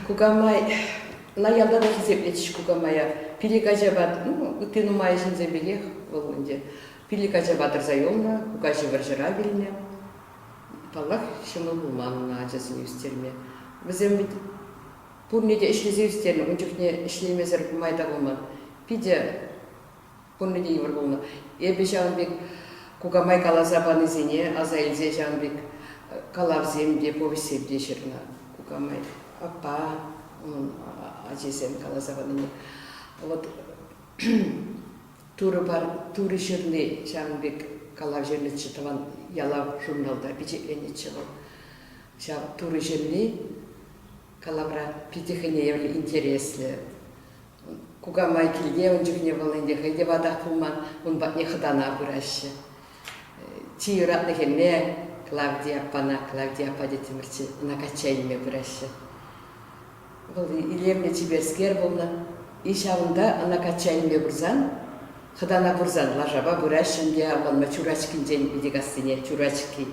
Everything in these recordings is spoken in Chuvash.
Кукамай, ӑна ялта та хисеплетӗҫ кукамая. Пилӗк ачапа, ну, ытти нумай ҫынсем пекех вӑл ӗнтӗ. Пилӗк ачапа тӑрса юлнӑ, кукаҫи вӑрҫӑра вилнӗ. Паллах, ҫӑмӑл пулман ӑна ачасене ӳстерме. Вӗсем вӗт пурне те ӗҫлесе ӳстернӗ, ун чухне ӗҫлемесӗр май та пулман. Питӗ Кунӗ те йывӑр пулнӑ. Эпӗ ҫавӑн пек кукамай каласа панисене аса илсе ҫавӑн пек калавсем те, повеҫсем те ҫырнӑ кукамай. Аппа, унӑн ачисем каласа панине. Вот Турӑ пар, Турӑ ҫырни ҫавӑн пек калав ҫырнӑччӗ тӑван ялав журналта пичетленетчӗ вӑл. Ҫав Турӑ ҫырни калавра питӗ хӑйне евӗр интереслӗ. кукамай килте ун чухне вӑл ӗнтӗ хӑй те ватах пулман, ун патне хӑтана пыраҫҫӗ. Чи юратнӑ хӗрне Клавдия аппана, Клавдия аппа тетӗмӗрччӗ, ӑна качча илме пыраҫҫӗ. Вӑл илемлӗ чиперскер пулнӑ. И ҫавӑнта ӑна качча илме пырсан, хӑтана пырсан лашапа пыраҫҫӗ ӗнтӗ, авланма Чурачкинчен Витекассине, Чурачки,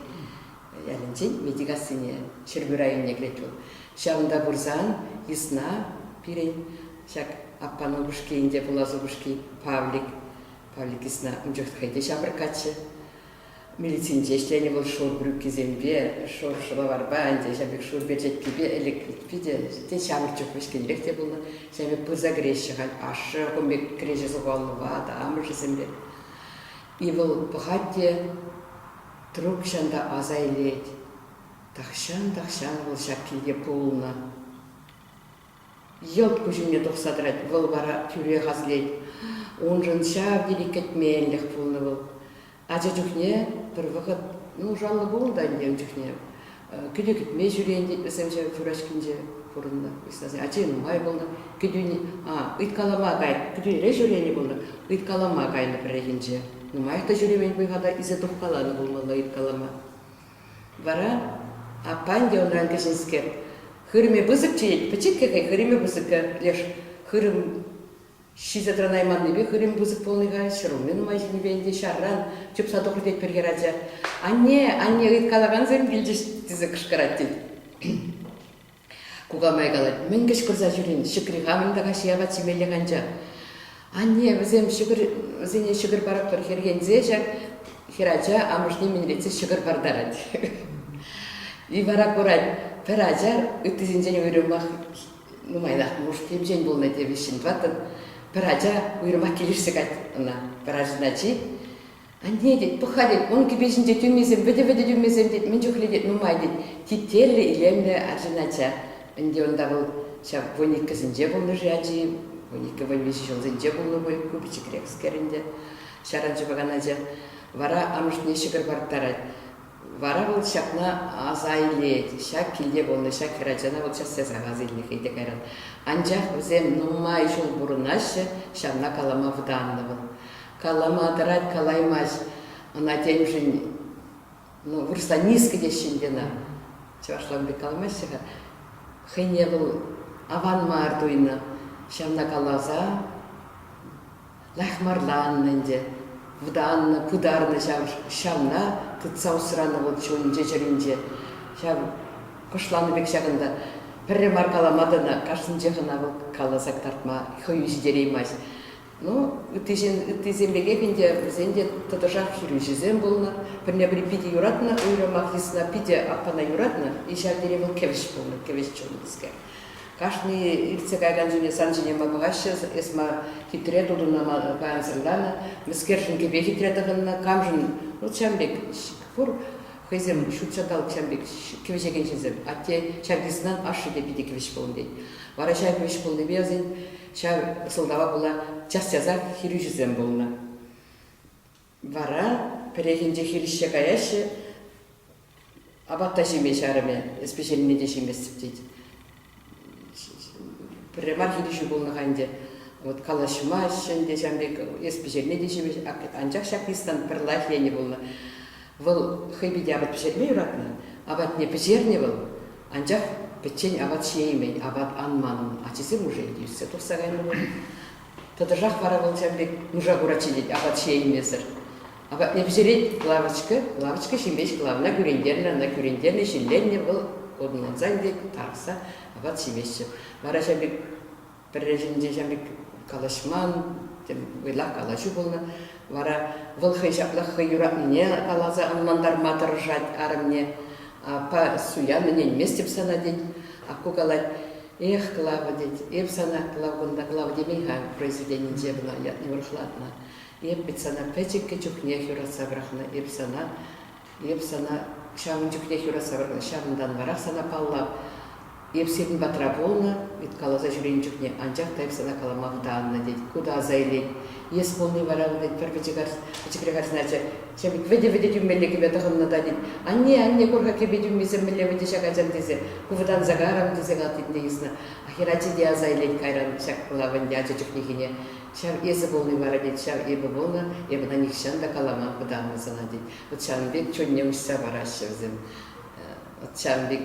ялӗнчен Метикассине, Ҫӗрпӳ районне кӗрет вӑл. Ҫавӑнта пырсан йысна пирӗн ҫак аппан упӑшки ӗнтӗ, пулас упӑшки Павлик. Павлик йысна ун чух хӑй те ҫамрӑккаччӗ. Милицинче ӗҫленӗ вӑл шур брюкисемпе, шур шӑлаварпа ӗнтӗ, ҫав пек шур перчеткипе ӗлӗк питӗ те ҫамрӑк чух вӗҫкӗнрех те пулнӑ. Ҫав пек пырса кӗреҫҫӗ халь ашшӗ кун пек кӗреҫе сухаллӑпа та амӑшӗсемпе. И вӑл пӑхать те Трукҫан та аса илет. Тахҫан-тахҫан вӑл ҫак килте пулнӑ. Йӑлт куҫӗме тухса тӑрать, вӑл вара тӳрех аслет. Уншӑн ҫав тери кӗтменлӗх пулнӑ вӑл. Ача чухне пӗр вӑхӑт, ну, шаллӑ пулнӑ та ӗнтӗ ун чухне, Кӗтӳ кӗтме ҫӳрен-тет вӗсем ҫав фуражкинче пурӑннӑ. Ачи нумай пулнӑ. Кӗтӳни, а, ыйткалама кайнӑ. Кӗтӳнӗре ҫӳренӗ пулнӑ, ыйткалама кайнӑ пӗррехинче. Нумаях та ҫӳремен пуль-ха ise тухкаланӑ пулмалла ыйткалама. Вара аппан те унран кӗҫӗнскер, хырӑмӗ пысӑкчӗ, пӗчӗккӗ хӑй хырӑмӗ пысӑккӗ леш хырӑм Ҫисе тӑранайманнипе хырӑм пысӑк пулнӑ-ха, ҫӗрулми нумай ҫинипе ӗнтӗ ҫарран чупса тухрӗ тет пӗр хӗрача. «Анне, анне, ыйткалакансем килчӗҫ!» тесе кӑшкӑрать тет. Кукамай калать, «Мӗн кӑшкӑрса ҫӳрен, ҫӗкри хамӑн та каҫхи апат ҫимеллех анчах». Анне вӗсем ҫӑкӑр, вӗсене ҫӑкӑр паратпӑр хӗрхенсе ҫак хӗрача амӑшне минретсе ҫӑкӑр партарать. И вара курать, пӗр ачар ыттисенчен уйрӑмах нумайрах пулӑш темчен пулнӑ те вӗҫҫӗн тӑваттӑн. Пӗр ача уйрӑмах килӗшсе кать ӑна, пӗр ачӑн ачи. Анне тет, пӑха тет, ун кӗпе ҫинче тӳмесем, вӗтӗ-вӗтӗ тӳмесем тет, мӗн чухлӗ тет, нумай тет. Тетеллӗ, илемлӗ арҫын ача. Ӗнтӗ унта вӑл ҫав вуниккӗсенче пулнӑ-ши ачи, вуниккӗ вуникӗ ҫулсенче пулнӑ пуль, ку пӗчӗкрехскер ӗнтӗ, ҫаран ҫупакан ача. Вара амӑшне ҫӑкӑр парӑттарать. Вара вӑл ҫакна аса илет, ҫак килте пулнӑ ҫак хӗрачана вӑл час-часах аса илнӗ-хей те кайран. Анчах вӗсем нумай ҫул пурӑнаҫҫӗ, ҫавна калама вӑтаннӑ вӑл. Калама тӑрать, калаймасть. Ӑна темшӗн ну, вырӑсла низко теҫҫӗ ӗнтӗ ӑна. Чӑвашлан пек каламаҫҫӗ-ха. Хӑйне вӑл аван мар туйнӑ. Ҫавна каласа Лахмарланнӑ ӗнтӗ, вӑтаннӑ, пытарнӑ ҫав. Ҫавна тытса усранӑ вӑл чун-чӗ чӗринче. Ҫав кӑшланӑ пек ҫакӑнта. Пӗрре мар калама тӑнӑ, кашнинчех ӑна вӑл каласа кӑтартма хӑю ҫитереймасть. Ну, ыттисем пекех ӗнтӗ, вӗсен те тӑтӑшах хирӳҫӗсем пулнӑ. Пӗрне-пӗри питӗ юратнӑ, уйрӑмах йысна питӗ аппана юратнӑ. И ҫав тери вӑл кӗвӗҫ пулнӑ, кӗвӗҫ чун тӗскер. Кашни иртсе кайран чуне сан ҫине ма пӑхаҫҫӗ? Эс ма хитре тутунама кансӗрланӑ? Мӗскершӗн кӗпе хитре тӑхӑннӑ? Камшӑн? Вӑл ҫам пек пур. Хӑйсем ҫут ҫанталӑк ҫам пек кӗвӗҫекенҫӗсем. Атте чаркиснан ашшӗ те питӗ кӗвӗҫ пулӑм тет. Вара ҫав кӗвӗҫ пулнипе вӗсен ҫав сӑлтава пула час-часах хирӳҫӗсем пулнӑ. Вара пӗррехинче хирӗҫсе каяҫҫӗ. Апат та ҫиме чарӑмӗ. Эс пӗҫернине те ҫиместӗп тет. Пӗрре мар хирӗҫӳ пулнӑ-ха ӗнтӗ. Вот калаҫмаҫҫӗ ӗнтӗ ҫам пек, эс пӗҫерне те ҫимеҫ. Анчах ҫак ӑҫтан пӗр лайӑх енӗ пулнӑ. Вӑл хӑй питӗ апат пӗҫерме юратнӑ. Апатне пӗҫернӗ вӑл, анчах пӗччен апат ҫиеймен, апат анман ун. Ачисем уже иртсе тухса кайнӑ пуль. Тӑтӑшах вара вӑл ҫав пек нуша куратчӗ тет апат ҫиеймесӗр. Апатне пӗҫерет лавочка, лавочка ҫимест ӑна кӳрентернӗ, ӑна кӳрентернӗ, ҫилленнӗ, вӑл ӑнлансан тет, тарӑхса апат ҫиместчӗ. Вара ҫав пек пӗрре ҫинче ҫав пек калаҫман, вӑйлах калаҫу пулнӑ. Вара вӑл хӑй ҫаплах хӑй юратнине каласа ӑнлантарма тӑрӑшать арӑмне. Аппа, суян ӗненместӗп сана тет. Акку калать, Эх, Клава, тет, эп сана Клав кунта Клав темен-ха, произведенинче кӑна ятне урӑхлатнӑ. Эп вӗт сана пӗчӗккӗ чухнех юратса пӑрахнӑ, эп сана, эп сана ҫавӑн чухнех юратса пӑрахнӑ, ҫавӑнтанварах сана паллап. Эп сирӗн патра пулнӑ, вӗт каласа ҫӳренӗ чухне анчах та эп сана калама хӑта аннӑ, тет. Ку та аса илет, Ес пулни вара, тет пӗр пӗчӗкре карсначӗ, тет, вӗтӗ-вӗтӗ тӳмелле кӗпе тӑхӑннӑ та, тет, анне, анне, кур-ха кӗпе тӳмисем мӗнле вӗтӗ ҫак ачам тесе, ку вӑтанса карӑм, тесе калтитне йӑснӑ. Хӗрачи те аса илет кайран ҫак пулав ӗнтӗ ача чухнехине. Ҫав эсӗ пулни вара, тет, ҫав эпӗ пулнӑ, эпӗ та нихҫан та каламан вӑтаннӑ сана, тет. Вӑт ҫавӑн пек чунне уҫса параҫҫӗ вӗсем. Вӑт ҫавӑн пек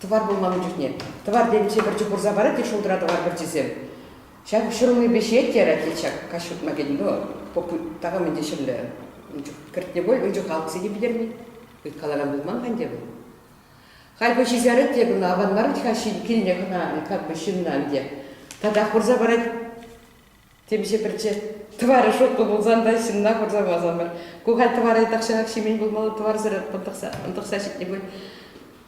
Тӑвар пулман ун чухне. Тӑвар темиҫе пӗрчи пурса парать те шултра тӑвар пӗрчисем. Ҫак ҫурӑлнипе ҫиет-ярать те ҫак каҫ хутма кӗтӗн вӑл. Попу такам ӗнтӗ ҫӗрле ун чух кӗртнӗ пуль, ун чух алӑксем те питӗрнӗ. Ыйткалакан пулман-ха ӗнтӗ вӑл. Халь хӑй ҫисерет те кӑна, аван мар вӗт-ха ҫын килне хӑна, как бы ҫынна ӗнтӗ. Татах пырса парать. Темиҫе пӗрчи тӑварӗ шутлӑ пулсан та ҫынна хурса памасамӑр. Ку халь тӑвара тахҫанах ҫимен пулмалла, тӑварсӑр ӑнтӑхса, ӑнтӑхса ҫитнӗ пуль.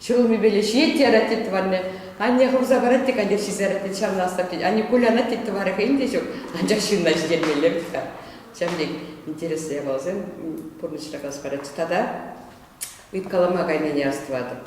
Ҫӗрулмипеле ҫиет те арать тет тӑварне. Анне хывса парать те каллех ҫисе тет ҫавна астав тет. Анне кулянать тет тӑварӗ хӑйӗн те ҫук, анчах ҫынна ҫитермелле вӗт-ха. Ҫав тек интереслӗ япаласем пурнӑҫра калас парать. Тата ыйткалама кайнине астӑватӑп.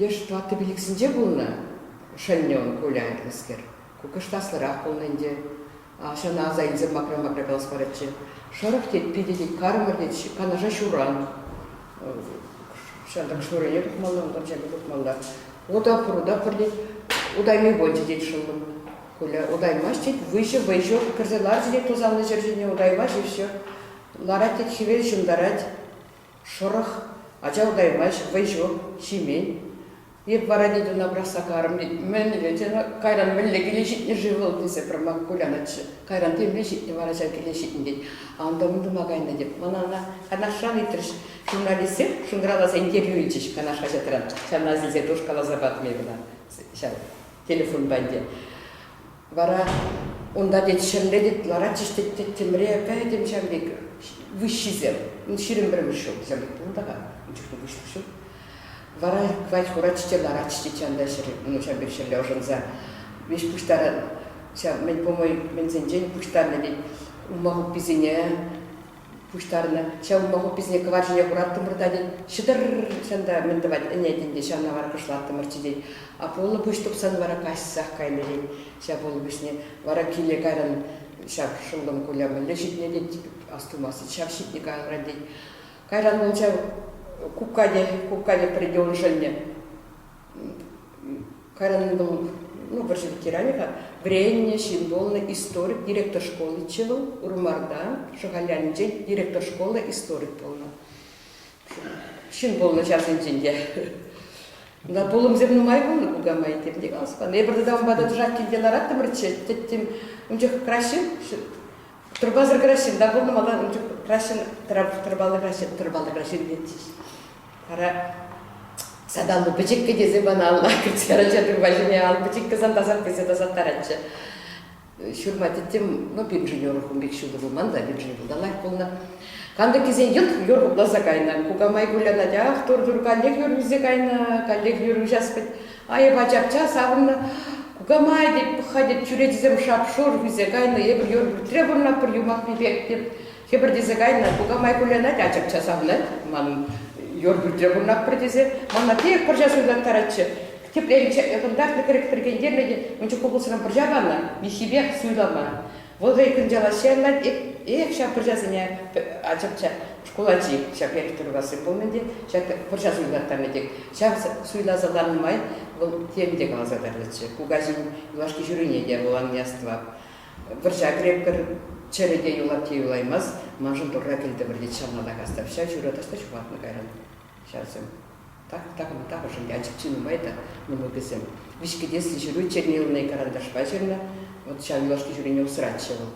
Леш Плата пилӗксенче пулнӑ, Шаньнён кулянкӑллӑскер. Кукӑштаслӑрах пулнӑ ӗнтӗ. Ҫавна аса илсе макра-макра калас парӗччӗ. Шӑрӑх тет, питӗ тет, кармӑр тет, Канаша ҫуран. Ҫантӑк шуррине тухмалла, унтан ҫакӑ тухмалла. Ута пурта пӗр тет, утайми пулчӗ тет шӑллӑм. Куля утаймасть тет, выҫӑ вӑйҫӑ кӗрсе ларчӗ тет тусанлӑ ҫӗр ҫине утаймасть-и все. Ларать тет, хӗвел ҫунтарать. Шӑрӑх, ача утаймасть, вӑй ҫук, ҫимен. Эп вара Митуна пӑрахса карӑм. Мӗнле тенӗ, кайран мӗнле киле ҫитнӗ-ши вӑл тесе пӗрмай кулянатчӗ. Кайран темле ҫитнӗ вара ҫав киле ҫитнӗ тет. Антом утӑма кайнӑ тет. Мана ӑна Канашран ыйтрӗҫ. Журналистсем шӑнкӑравласа интервью илчӗҫ Канаш хаҫатран. Ҫавна силсе тушкаласа патӑм эпӗ ӑна ҫав телефонпа ӗнтӗ. Вара унта, тет, ҫӗмре, тет, ларатчӗҫ, тет, тӗмре, пӗтӗм ҫав пек выҫҫисем. Ну, ҫирӗм пӗрмӗш ҫул вӗсем пулнӑ-ха, ун чухне выҫлӑх ҫук. Вара хвать хуратчӗ те ларатчӗ, тет, ҫанта ҫӗр, ну, ҫав пек ҫӗрле ӑшӑнса. Веҫ пуҫтаран, ҫав, мӗн, по-моему, мӗнсенчен пуҫтарнӑ, тет, улма хупписене, пуҫтарнӑ. Ҫавӑнпа хупписене кӑвар ҫине хураттӑмӑр та, тет. Ҫӑтӑр-р! Ҫан та мӗн тӑвать, ӗне, тен те, ҫанна варкӑшлаттӑмӑрччӗ, тет. Апуллӑ пуҫ тупсан вара каҫсах кайнӑ, тет. Ҫав пулӑ пуҫне вара киле кайран ҫав шӑнкӑм Куля мӗнле ҫитнӗ, тет. Астумасть, тет, ҫав ҫитнӗ кайран, тет. Кайран вӑл ҫав кукка те, кукка те пӗр икӗ уншӑнне Карӑн вӑл ну, вӑрҫӑ ветеранӗ-ха, вӗреннӗ ҫын пулнӑ историк, директор школӗччӗ вӑл, Урмарта, Шӑхаль ялӗнче директор школы историк пулнӑ. Ҫын пулнӑ ҫавсенчен те. На пулӑмсем нумай пулнӑ кукамай темте каласпан. Эпир тата унпа тӑтӑшах килте лараттӑмӑрччӗ, тӗттӗм. Ун чух краҫҫын, тырпасӑр краҫҫын та пулнӑ, малтан ун чух краҫҫын, тырпаллӑ краҫҫын, тырпаллӑ краҫҫын тетчӗҫ. Вара саталлӑ пӗчӗккӗ тесе мана алла кӗртсе арача тырпа ҫине ал пӗчӗккӗ тесе тасаттаратчӗ. Ҫурма теттем, ну, пирӗншӗн юрӑхӑм пек ҫутӑ пулман та, пирӗншӗн лайӑх пулнӑ. Кантӑккисен йӑлт юрхӑпласа кайнӑ. Кукамай кулянать, ах, тур, тур, каллех юр ӳсе кайнӑ, каллех юр уҫас пӗт. Айӑпа чапча савӑннӑ. Кукамай тет, пӑхха тет, чӳречисем шап-шур ӳсе кайнӑ. Эпир юр пӳртре пурӑнатпӑр юмахпи пек, тет. хӗпӗртесе кайнӑ, кукамай кулянать, ачапча савнать, ман юр пӳртре пурӑнатпӑр тесе, мана тек пӑрҫа суйлаттаратчӗ. Тепле ӑтӑнтарнӑ кӗрӗк пӗркентернӗ те мунча купӑсран пӑрҫа панӑ, миххипех суйлама. Вӑл хӑй кӑнчалаҫҫӗ ӑнлать, эх, ҫав пӑрҫасене ачапча шкул ачи ҫак Эльтӑркассин пулнӑ те, ҫак пӑрҫа суйлаттарнӑ тек. Ҫав суйласа ланӑ май вӑл тем те каласа тӑрнӑччӗ, кукаҫин юлашки ҫурине те вӑл ан яства. Вӑрҫа крепкӗр чӗрӗ те юлать те юлаймасть, маншӑн Турра кӗлтӗмӗр, тет ҫавнанах Астапҫа ҫуратас та ҫухатнӑ кайран ҫарсем. Тахӑшӗн ячӗпчӗ нумай та мӑнукӗсем. Виҫкӗтеслӗ ҫыру чирне ылнӑ карандашпа ҫырнӑ. Вӑт ҫав юлашки ҫурине усратчӗ вӑл.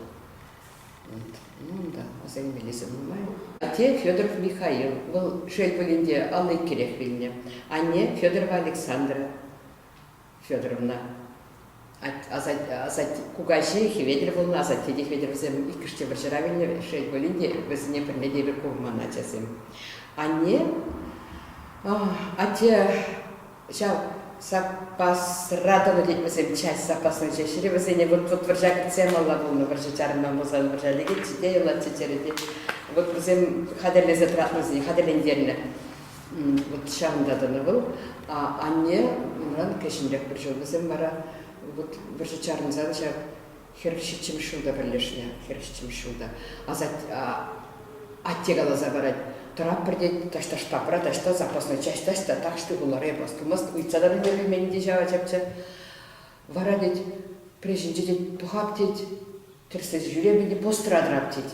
Вот. Ну унта асаймеллисем нумай. Атте Федоров Михаил, вӑл шел пулин те, алликкерех вилнӗ. Анне, Федорова Александра. Федоровна. Кукаҫи Хветӗр пулнӑ, асатте те Хветӗр вӗсем иккӗш те вӑрҫӑра вилнӗ. Шел пулин те, вӗсене пӗрне те эпир курман ачасем. Анне, атте ҫав саппасра тӑнӑ тет вӗсем, часть саппасӑн ҫеҫ. Вӗсене вот вӑрҫа кӗтсе малла пулнӑ, вӑрҫӑ чарӑнма пулсан вӑрҫа лекетчӗ те, юлатчӗ чӗрӗ те. Вот вӗсем хатӗрлесе тӑратнисене хатӗрлентернӗ. Вот ҫавӑнта тӑнӑ вӑл. Анне унран кӗҫӗнрех пӗр ҫул, вӗсем вара вот вӑрҫӑ чарӑнсан ҫав хӗр ҫиччӗмӗш ҫулта пӗрлешнӗ, хӗр ҫиччӗмӗш ҫулта. Атте каласа парать, тӑратпӑр тет, таҫта штабра, таҫта запасной часть, таҫта тахҫти хулара эпос тумасть, ыйтса та пӗлтереймен те ҫав ачапча. Вара тет, прежӗнче тет, пӑхап тет, тӗрӗслесе ҫӳремӗн те постра тӑрап тет.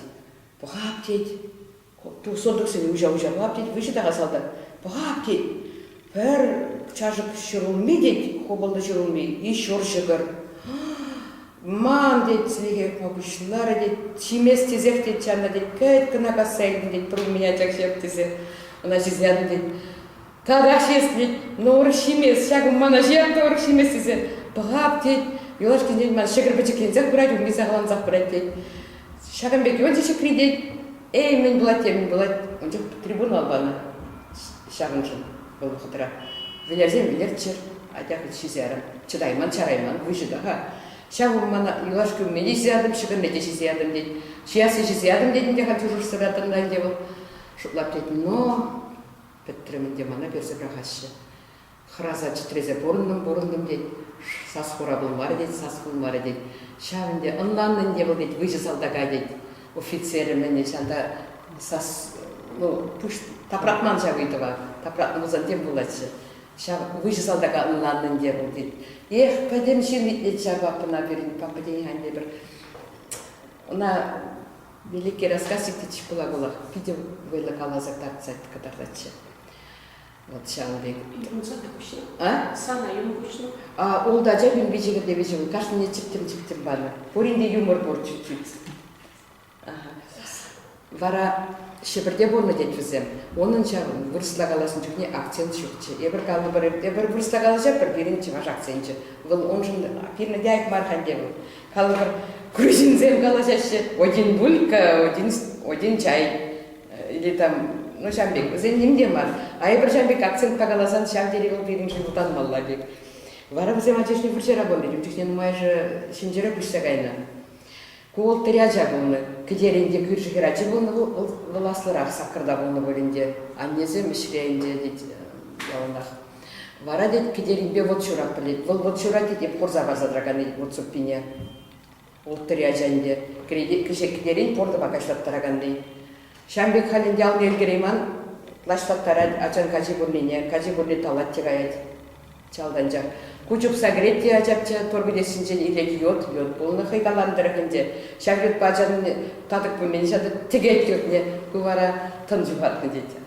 Пӑхап тет, Сортуксене уҫа-уҫа пӑхап тет, выҫӑ та-ха салтак. Пӑхап тет, пӗр чашӑк ҫӗрулми тет, хупӑлтӑ ҫӗрулми, еще ҫӑкӑр. Ман тет, сӗнекех пуҫларӗ тет, ҫимест тесех тет ҫанна тет, кайт кӑна касса илтӗн тет, пӗрин мӗн ачак ҫав тесе, ӑна ҫисе янӑ тет. Тавраш эс, тет, ну урӑх ҫимес, ҫакӑ мана ҫырат урӑх ҫимес тесе, пӑхап, тет, юлашкинчен ман ҫӑкӑр пӗчӗкленсех пырать, умне сахалансах пырать, тет. Ҫакӑн пек юлчӗ ҫӗкри, тет, эй, мӗн пулать те мӗн пулать, ун чух трибунал панӑ ҫавӑншӑн вӑл вӑхӑтра. Вӗлерсен вӗлерччӗр, атя хӑть ҫисе ара, чӑтайман, чарайман, выҫӑ та-ха. Ҫавӑ мана юлашки умне те ҫисе ятӑм, ҫӑкӑрне те ҫисе ятӑм, тет. Ҫиясне ҫисе ятӑм, тетӗн те халь чушӑрсӑратӑн та ӗнтӗ вӑл. Шутлап, тет, но Пӗтрӗм ӗнтӗ, мана персе пӑрахаҫҫӗ. Хӑраса чӗтресе пурӑнтӑм-пурӑнтӑм тет, сас-хура пулмарӗ тет, сас пулмарӗ тет. Ҫав ӗнтӗ, ӑнланнӑ ӗнтӗ вӑл тет, выҫӑ салтака тет. Офицерӗ-мӗнӗ ҫанта сас, ну, пуҫ тапратман ҫав ыйтӑва. Тапратнӑ пулсан тем пулатчӗ. Ҫав выҫӑ салтака ӑнланнӑ ӗнтӗ вӑл тет. Эх, пӗтӗм ҫын итлет ҫав папӑна пирӗн, папа тен, хан тепӗр ӑна Великий рассказ Никитич пула вӑлах питӗ вӑйлӑ каласа татсать кӑтартатчӗ. Вот ҫавӑн пек. Ун сана куҫнӑ. А? Сана юн куҫнӑ. А, ултӑ ача пӳрпи чӗкӗртевӗчӗ ун. Кашнине чӗптӗм-чӗптӗм панӑ. Пурин те юмор пур чуть-чуть. Ага. Вара Ҫӗпӗрте пурнӑ тет вӗсем. Унӑн ҫавӑн, вырӑсла калаҫнӑ чухне акцент ҫукчӗ. Эпир калӑпӑр, эпир вырӑсла калаҫатпӑр, пирӗн чӑваш акценчӗ. Вӑл уншӑн фильмӗ те ак мар-ха ӗнтӗ вӑл. Калӑпӑр, грузинсем калаҫаҫҫӗ один булька, один, один чай или там, ну ҫав пек, вӗсен ним те мар. А эпир ҫав пек акцентпа каласан ҫав тери вӑл пирӗншӗн утанмалла пек. Вара вӗсем ачашне вӑрҫа рабони, ун чухне нумайӑшӗ ҫинҫерах уҫса кайнӑ. Ку вӑл тӗрӗ ача пулнӑ. Кӗтерен те кӳршӗ хӗрачи пулнӑ, вӑл, вӑл аслӑрах саккӑрта пулнӑ пуль ӗнтӗ. Аннесем ӗҫре ӗнтӗ, тет, яланах. Вара, тет, Кӗтеринпе вӑт ҫуратпӑр, тет. Вӑл вӑт ҫуратӗ, тет, хурса парса тӑракан, тет, вӑт суппине. Улттӑри ача ӗнтӗ. Кӗҫех Кӗтерин портӑпа каҫлаттаракан, тет. Ҫавӑн пек халь ӗнтӗ алне ӗлкӗрейман, лачлаттарать, ачан качи пуррине, качи пурри талать те каять. Чалтанчах. Ку чупса кӗрет те ачапча, торпилессинчен ирех йод, йод пулнӑ хӑй каланӑ тӑрӑх ӗнтӗ. Ҫак йодпа ачан татӑк пулмин ҫатӑ тӗкет йодне, ку вара тӑн ҫухатнӑ тет.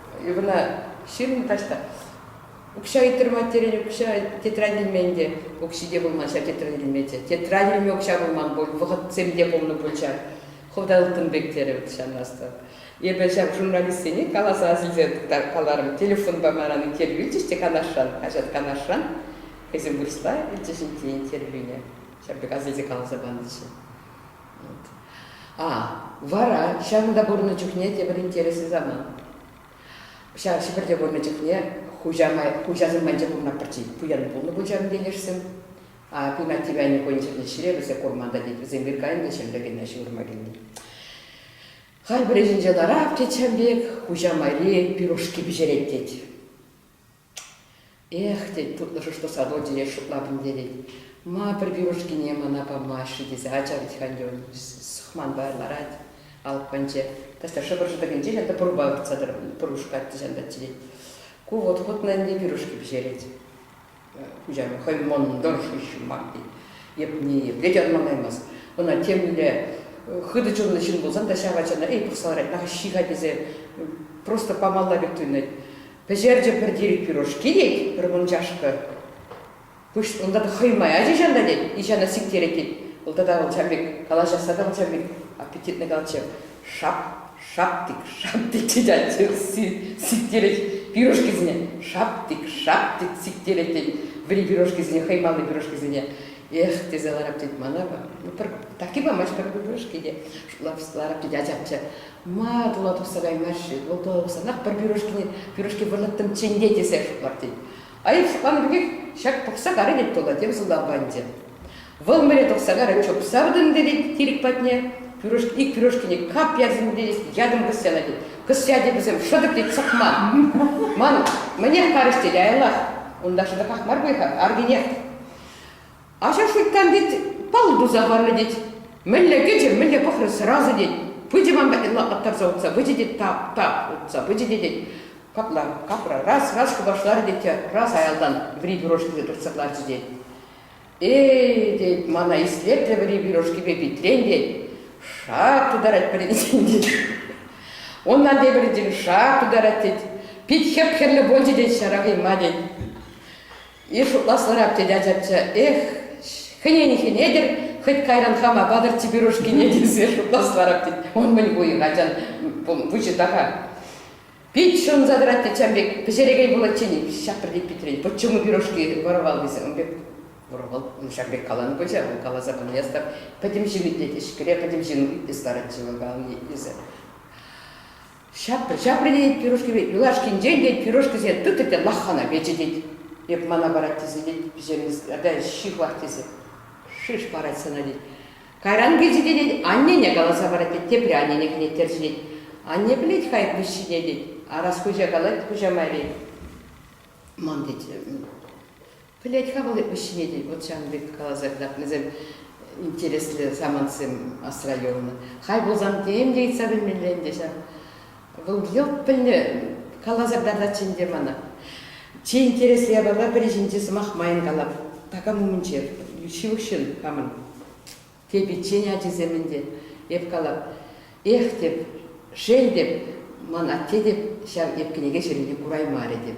Ывӑна ҫырнӑ таҫта укҫа ыйттӑрмать терен укҫа тетрадь илмен те укҫи те пулман ҫав тетрадь илмеччӗ тетрадь илме укҫа пулман пуль вӑхӑтсем те пулнӑ пуль ҫав хӑвта ылтӑн пек терӗ вӑл ҫанмастан эпӗ ҫав журналистсене каласа асилсе каларӑм телефонпа манран интервью илчӗҫ те канашран хаҫат канашран хӑйсем вырӑсла илчӗҫ иккен интервьюне ҫав пек асилсе каласа панӑччӗ А, вара ҫакӑнта пурӑннӑ чухне тепӗр интереслӗ самант. Ҫав Ҫӗпӗрте пурӑннӑ чухне хуҫа, хуҫасем майӗнче пурӑнма пӗрчи пуян пулнӑ пуль ҫавӑн ентешсем. А Пинатти Вяни хӑйӗн ҫӗрне ҫӗре вӗсе курман та тет, вӗсем вир кайнӑ ҫӗрле кӗнӗ ҫывӑрма килнӗ. Хай пӗр ӗҫӗнче ларап, тет ҫам пек, хуҫа майри пирушки пӗҫерет, тет. Эх, тет тутлӑшӑш тӑрса Родие шутла пӗлтерет. Ма пӗр пюрешкине мана памаҫҫӗ тесе ачарать Ханьюн. Сӑхманпа ларать, алӑпканче. Тата шӑпӑр шӑтӑкӗнче ҫакӑнта пурпа выртса пур кушкать те ҫантать тет. Ку вӑт хутна ӗнтӗ пюрешки пӗҫерет. Куҫару хӑй мӑнтӑр шыҫма тет. Йӗпни йӗпке те ӑнланаймасть. Ӑна темле хытӑ чунлӑ ҫын пулсан та ҫав ачана эй пӑхса ларать, ах ҫи-ха тесе просто памалла пек туйӑнать. Пӗҫерчӗ пӗр тирӗк пюрешки тет, пӗр вунчашка. Пусть унта та хӑй ма ячӗ ҫанта тет, ичана сиктерет тет. Вӑл тата он чам пек калаҫасса та он чам пек аппетитно калатчӗ. Шап, шаптик, шаптик тет ачи сиктерет пюрешкисене. Шаптик, шаптик сиктерет тет. Вӗри пюрешкисене, хӑймалли пюрешкисене. Эх, тесе ларап тет мана. Ну, пӗр таки памасть пӗр пюрешки те. Ларап тет ачамчча. Ма тула тухса каймасть-ши? Вӑл тӑвасанах пӗр пюрешкине пюрешки вӑрлӑттӑмччен те тесе шутлать тет. Аив шӑпланнӑ пекех ҫак пӑхса карӗ тет тула, тем сӑлтавпанчӗ. Вӑл мӗне тухса карӗ, чупса выртӑнтӗ тет тирӗк патне. Пюрешки, ик пюрешкине кап ярсенпе ятӑм кӑсяна тет. Кӑсья тет вӗсем, шӑтӑк тет сӑхма. Ман мӗнех карӗҫ тет аялах. Унта шӑтӑках мар пуль-ха, аркинех. Ача шуйттан тет, палл туса парнӑ тет. Мӗнле кӗчӗ, мӗнле пӑхрӗ сразу тет. Пычӗ ман патнелла аттарса утса пычӗ тет, тап, тап утса пычӗ те тет. Капла, капла, раз, раз хӑпашларӗ тет те раз аялтан вӗри пирожкипе туртса кӑларчӗ тет. Эй, тет, мана ислетрӗ вӗри пирожкипе питрен тет. Шак тутарать пӗринчен тет. Унтан тепӗринчен шак тутарать тет. Пит хӗп-хӗрлӗ пулчӗ тет ҫарахима тет. Ир шутласлӑрах тет ачачча. Эх, хӗнен хӗнетӗр, хӑть кайран хама патӑрччӗ пирушкине тесе шутласларах тет. Он мӗн пуйӑн, ачан пуҫӗ така. Пит шӑнса тӑрать те чам пек пӗҫерекей пулатчен. Ҫапрӗ те Питрен, почему пирушки вӑрвал тесе. Ун пек вӑрвал ҫак пек каланӑ пулчӗ, вӑл каласа пынине астав. Пӗтӗм ҫын итлет, ӗҫкӗре пӗтӗм ҫын итлес ларатчӗ вӑл калани итлесе. Ҫаприн пирушкипе юлашкинчен те пирушкӑсене тытӑ те лахана печӗтет. Эп мана парать тесе тет пӗҫермест, ата ҫыхлах тесе шиш парать сана тет. Кайран килчӗ те тет аннене каласа парать тет, тепре аннене кӗнеттерчӗ тет. Анне пӗлет хай пуҫҫине тет, арас хуҫа калать, хуҫа майри. Ман тет, Пӗлет-ха вӑл эп вӗҫҫӗне тен, вӑт ҫавӑн пек каласа кӑтартнисем интереслӗ самантсем асра юлнӑ. Хай пулсан тем те ыйтса пӗлмелле ӗнтӗ ҫав. Вӑл йӑлт пӗлнӗ, каласа кӑтартатчӗ ӗнтӗ мана. Чи интереслӗ япала пӗри ҫинчи сӑмах майӑн калав. Такам умӗнче ҫывӑх ҫын хамӑн. Тейпиччен ачисем ӗнтӗ эп калав. Эх теп, шел теп, ман атте теп ҫав эп кӗнеке ҫырнине кураймарӗ теп.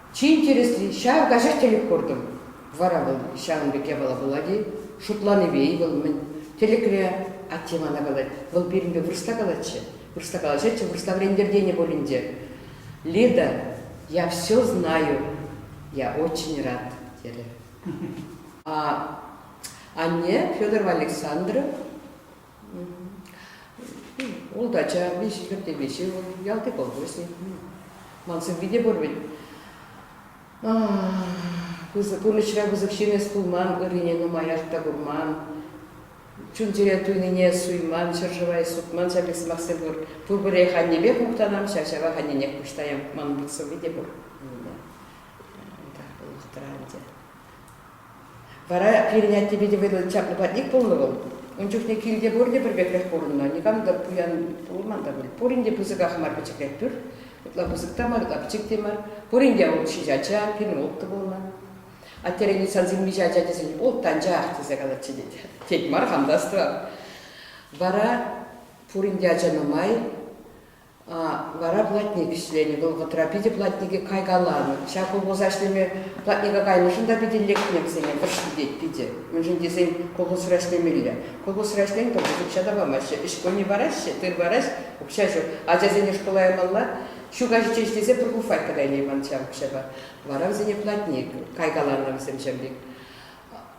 Чи интересли, ҫав каҫах тӗлӗк куртӑм. Вара вӑл ҫавӑн пек япала пулать-и? Шутланипе-и вӑл мӗн? Тӗлӗкре атте мана калать, вӑл пирӗнпе вырӑсла калатчӗ. Вырӑсла калаҫатчӗ, вырӑсла вӗрентӗр тенӗ пуль ӗнтӗ. Лида, я все знаю, я очень рад, терӗ. А анне, Федорова Александра, Ултача виҫӗ ҫурти виҫӗ, вӑл ялти колхозник. Ман сывви те пур вӗт. Пысӑк пурнӑҫра пысӑк ҫимес пулман, ыррине нумаях та курман. Чун-чӗре туйнине суйман, ҫӗршыва эс сутман ҫак сӑмахсем пур. Пурпӗрех аннепех мухтанам, ҫав-ҫавах анненех пуҫтаям. Манӑн пек сывви те пур. Улӑхтӑра ӗнтӗ. Вара пирӗн аттепе те вӑйлӑ чаплӑ патник пулнӑ вӑл. Ун чухне килте пурте пӗр пекрех пурӑннӑ, никам та пуян пулман та пуль. Пурин те пысӑках мар пӗчӗклех пӳр. Ытла пысӑк та мар, ытла пӗчӗк те мар. Пурин те вӑл ҫичӗ ача, пирӗн улттӑ пулнӑ. Аттерен юссан симвиҫӗ ача тесен ултӑ ачах тесе калатчӗ тет. Тет мар, хам та астӑвам. Вара пурин те ача нумай. Вара платник ӗҫленӗ вӑхӑтра питӗ платнике кайкаланӑ. Ҫак колхоза ӗҫлеме платника кайнӑшӑн та питӗ лекнӗччӗ-ӗне, тӑршшӗ тет питӗ. Мӗншӗн тесен колхозра ӗҫлемелле. Колхозра ӗҫлен пӗр укҫа та памаҫҫӗ, ӗҫ-пуҫне параҫҫӗ, тыр параҫ, укҫа ҫук. Ачасене шкула ямалла. Ҫу каҫиччен ӗҫлесе пӗр буфайка та илейман ҫав укҫапа. Вара вӗсене платник, кайкаланӑ вӗсем ҫав пек.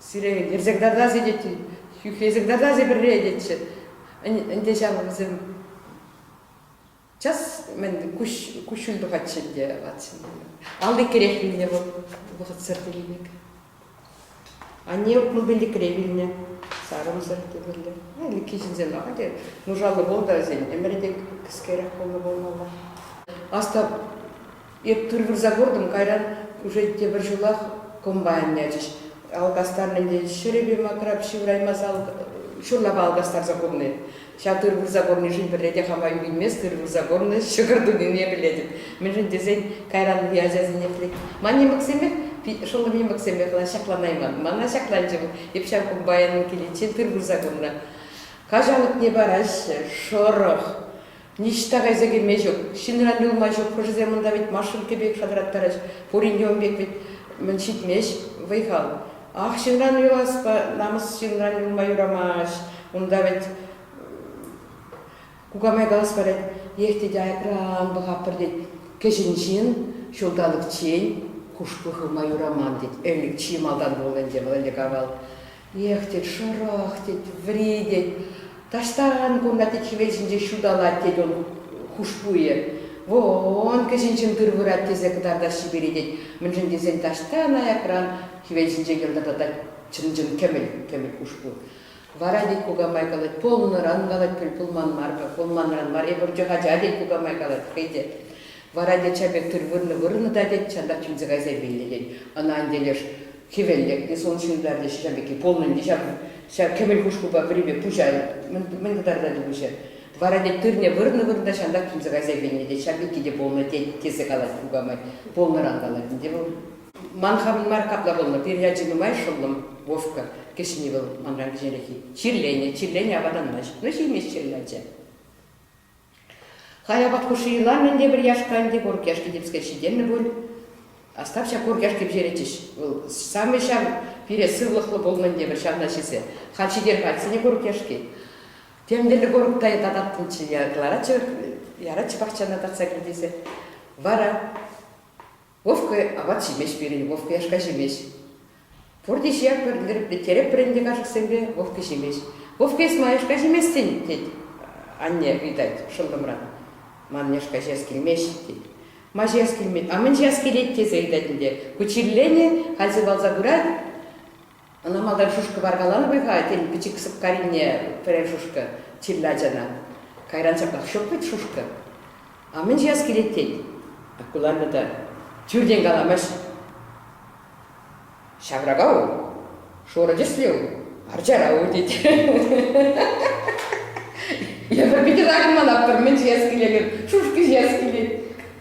Сире ерсӗртатас тетчӗ, хӳхесӗртатас пӗрре тетчӗ. Ӗнтӗ ҫав вӗсем час мӗн куҫ куҫҫуль тухатчӗ ӗнтӗ ватсене. Алликерех вилнӗ вӑл вӑхӑтсӑр тенӗ пек. Анне мобильникре вилнӗ, сарӑмсӑр тепӗрле. Ӗлӗкхи ҫынсем мар те, нушаллӑ пулнӑ та вӗсен ӗмӗрӗ те кӗскерех пулнӑ пулмалла. Аста Эп пӗр вырса куртӑм, кайран уже тепӗр ҫулах комбайн ячӗҫ. Алкастарнӑ тен, ҫӗрӗпе макрап ҫывӑраймас ҫурлапа алкастарса курни. Ҫав тыр вырса курнишӗн пӗрре те хама юрименс тыр вырса курни ҫӑкӑр тунине пӗлетӗп. Мӗншӗн тесен кайран ытти ачасене пӗлет. Ман нимӗксемех, шӑллӑм нимӗксемех ҫакланайман. Мана ҫакланчӗ вӑл. Эп ҫав комбайнӑн киличчен тыр вырса курнӑ каҫалӑкне параҫҫӗ. Шӑрӑх. Ниҫта кайса килме ҫук, ҫынран юлма ҫук. Хӑшӗсем унта вӗт машинка пек шатраттарӗҫ, пурин те ун пек вӗт мӗн ҫитмест вӑй-хал. Ах, ҫынран юласпа намӑс ҫынран юлма юрамасть. Унта вӗт кукамай калас парать, ех, тете, айкран пӑхатпӑр, тет. Кӗҫӗн ҫын ҫулталӑкчен хушпу хывма юраман, тет. Ӗлӗк чи малтан пулнӑ ӗнтӗ вӑл ӗлӗк авал. Эх, тет, шӑрӑх, тет, вӗри, тет. Таҫтан кунта, тет, хӗвел ҫинче ҫуталать, тет ун хушпуйӗ. Вон, кӗҫӗнҫын тыр вырать тесе кӑтартас чипере, тет. Мӗншӗн тесен таҫтан аякран хӗвел ҫинче йӑлтӑртатать чӑн-чӑн кӗмӗл-кӗмӗл хушпу. Вара, тет, кукамай калать, пулнӑран, калать, пулман мар-ха, пулманран мар, эпӗ пурччӗ ача, тет, кукамай калать хӑй те. Вара тетя пек тыр вырнӑ-вырнӑ та, тет, чантах чӗнсе кайса илмелле, тет. Ӑна ан телеш, хӗвел лекнӗ, сон ҫунтартӗҫ ҫав пекки пулнӑ ӗнтӗ ҫав. Ҫав кӗвӗл хушпупа пӗрипе пуҫа мӗн кӑтартать выҫӑ. Вара, тет, тырне вырнӑ-вырнӑ чантах чӗнсе кайса илмелле, тет, ҫав пекки те пулнӑ, тет, тесе калать кукамай. Пулнӑран калать ӗнтӗ вӑл. Ман хамӑн мар капла пулнӑ, пир ячӗ нумай шӑллӑм, Вовка, кӗҫӗнни вӑл манран кӗҫӗнрехи. Чирленӗ, чирленӗ апатанмасть, ну ҫимест чӗр ячӗ. Хаяпат хушши йӑла мӗн те пӗр яшкан те пур яшке типскер ҫитӗннӗ пуль. Остапча пур яшке пӗҫеретчӗҫ. Вӑл самый ҫав пире сывлӑхлӑ пулнӑн тепӗр ҫавна ҫисе. Халь ҫитер кайсине курӑк яшки. Тӗмтӗрлӗ курӑк та тататтӑмччӗ, яратчӗ, яратчӗ пахчана татса килтесе. Вара Вовка апат ҫимест пирӗн, Вовка яшка ҫимест. Пурте ҫиярпӑр, лереплетерӗпӗр ӗнтӗ кашӑксемпе, Вовка ҫимест. Вовка, эс ман яшка ҫиместӗн? тет анне, ыйтать шӑллӑмран. Ман яшка ҫияс килмест, тет. Ма ҫияс килмет? А мӗн ҫияс килет? тесе ыйтать ӗнтӗ. Ку чирленӗ, халь сывалса пырать. Ӑна малтан шушка варкаланӑ пек-ха, тен, пӗчӗк сӑпкарине пӗрер шушка чирлӗ ачана. Кайран ҫаплах ҫук вӗт шушка. А мӗн ҫияс килет тен? Акулана та тӳртен каламасть. Ҫаврака ул, шурӑ тӗслӗ ул, арчара ул тет. Эпӗ питӗ такӑнман аппӑр, мӗн ҫияс килет, шушка ҫияс килет.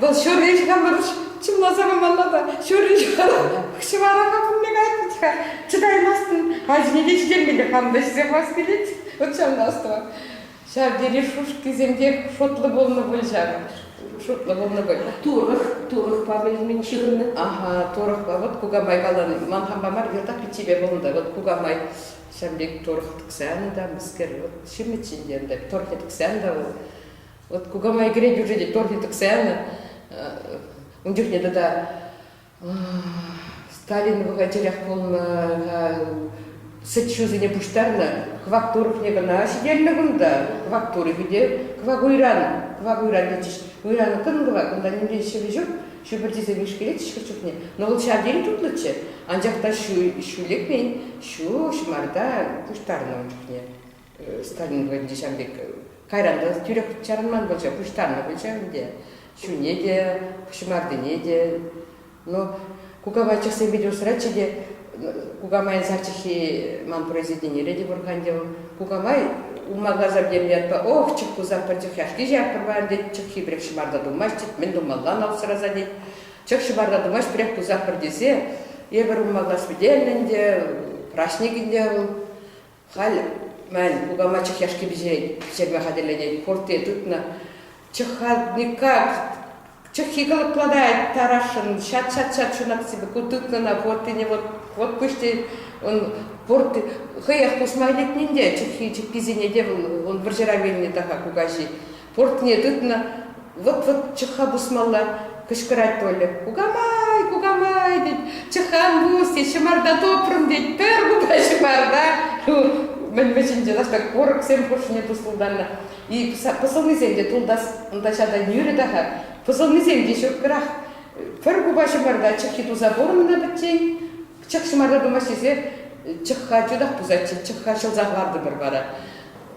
Вӑл ҫурри хамӑр чӑмласа памалла та ҫурри ҫӑвара-ха пулне кайрӗт-ха чӑтаймастӑн ачине те ҫитермелле хам та ҫисе хас килет вот ҫавна ӑстӑва ҫав тери шушкисем пек шотлӑ пулнӑ пуль ҫав шутлӑ пулнӑ пуль турӑх турӑхпа мӗн ҫыхӑннӑ аха турӑхпа вот кукамай каланӑ ман хампа мар йӑлтах пиччепе пулнӑ вот кукамай ҫав пек турӑх тӑксан та мӗскер вот ҫимӗт ҫинчен та турхӗ тӑксан та вӑл Вот кукамай кӗрет бюджете торф тӗксе янӑ. Ун чухне тата Сталин бухгалтерах пулнӑ, сӗт-ҫусене пуҫтарнӑ. Кӑвак турӑхне кӑна ҫителнӗ кунта. Кӑвак турӑхӗ те кӑвак уйран, кӑвак уйран тетчӗҫ. Уйран кӑн-кӑвак, кунта нимрен ҫӗвӗ ҫук. Ҫупӑрчисем ишкелетчӗҫ хӑш чухне. Но вӑл ҫав тери тутлӑччӗ. Анчах та ҫу лекмен, ҫу ҫӑмарта пуҫтарнӑ ун чухне. Сталин вӑйӗнче ҫав пек кайран та тӳрех чарӑнман пулчӗ, пуҫтарнӑ пулчӗ ӗнтӗ. Чунне те, пуҫмартине те. Но кукамайчӑхсем питӗ усратчӗ те. Кукамайӑн сар чӗлхи ман произведенире те пур ӗнтӗ вӑл. Кукамай улма-касар тенӗ ятпа ох, чӑх-пусах пӗр чӑх яшки ҫаппӑр пар тет, чӑххи пӗрех ҫӑмарта тумасть тет, мӗн тумаллан алсӑраса тет. Чӑх ҫӑпарта тумасть, пӗрех пусах пӗр тесе эпӗр улма-кас пӗтернӗ ӗнтӗ. Праҫник ӗнтӗ вӑл. Халь, мӗн, кукама чӑх яшки пиҫет, ҫерме хатӗрлетет, хуртти тытнӑ. Чӑха никак, чӑххи кӑлӑплатать тарашшӑн, ҫат-ҫат-ҫат ҫунапсипе ку тытнӑна хуртине вот, вот пуҫти, он пурт хӑех куҫма илетнин те чӑххи чиккисене те вӑл вӑрҫӑра вилнӗ та-ха кукаҫи. Портне тытнӑ, вӑт-вӑт чӑхха пусмалла, кӑшкӑрать Толя. Кукамай, кукамай, тет, чӑхан пус, тет, ҫӑмарта тупрӑм, тет, пӗр кука ҫӑмарта, мӗн-мӗнчинче лаштак курӑксем хушшине тусӑлтаннӑ. И пӑсӑлнисем те тултас, унта ҫата нӳрӗ та-ха, пӑсӑлнисем те ҫукрах. Пӗр кука ҫӑмарта чӑххи туса пурӑннӑ пӗччен, Пӑчак ҫӑмарта пымасть тесе чӑхха чутах пусатчӗ, чӑхха ҫӑлсах лартӑмӑр вара.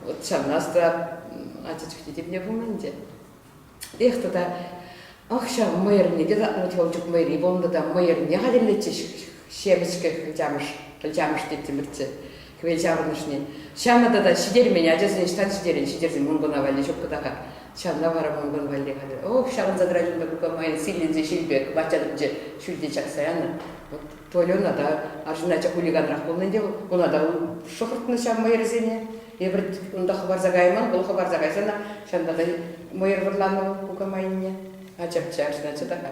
Вот ҫавнас та ача чухне темне пулман те. Эх тата, ах ҫав мӑйӑрне те татнӑ Елчук мӑйри пулнӑ та мӑйӑрне хатӗрлетчӗҫ ҫемӗчкӗ Ылчамӑш. Ылчамӑш теттӗмӗрччӗ. Хӗвел ҫаврӑнӑшне ҫанӑ тата ҫитермен, ачасен ӑҫтан ҫитерӗн, ҫитерсен мӑнкӑна валли ҫук кӑтака. Ҫавна вара мӑнкӑн валли хатӗр. Ох, ҫаврӑнса тӑрать унта кукамайӑн силленсе ҫил пек, ват ҫатӑкӗнче ҫӳлтен чакса янӑ. Вӑт, Тольӑна та, арҫын ача хулиганрах пулнӑ ӗнтӗ вӑл, куна та шӑхӑртнӑ ҫав мӑйӑрсене. Эпир унта хӑпарса кайман, вӑл хӑпарса кайсан ҫанталӑк мӑйӑр вӑрланӑ вӑл кукамайӑнне. Ачапча, арҫын ача та-ха.